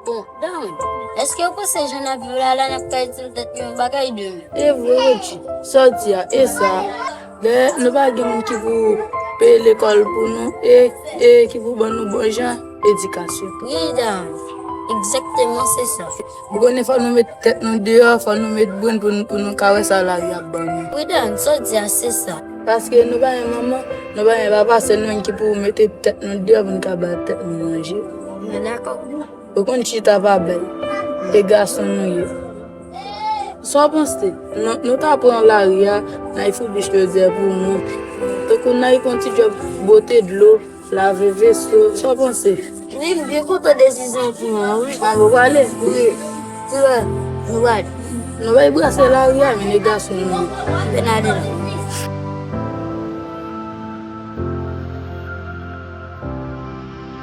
Bon dam, eske ou panse jan nap viv la la nap ka itil nou tèt nou yon bagay demen? E vre Roodji, sa w di a e sa, lè nou pa gen moun ki pou peye lekòl pou nou e e ki pou ban nou bon jan edikasyon. Wi dam, egzakteman se sa. Ou konnen fò nou met tèt nou deyò, fò nou met brenn pou nou pou nou ka wè sa lavi ap ban nou. Wi dam, sa w di a se sa. Paske nou pa gen manman, nou pa gen papa, se nou menm ki pou mete tèt nou deyò pou nou ka bay tèt nou manje. Ou konn chita pa bèl, e gason nou ye. Sa w panse? Nou ta pran lari a, nan Ifoubish Lodiè pou moun. Tankou nan Ifon ti djòb bote dlo, lave veso. Sa w panse? Wi, m byen kontan desizyon ou pran an wi. Ou pale? Wi. Ki lè nou pral? Nou bay brase lari a men e gason nou ye. Anben n ale la.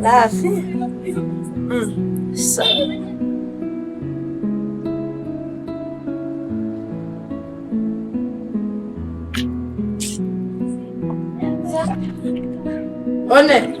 La vi Sa One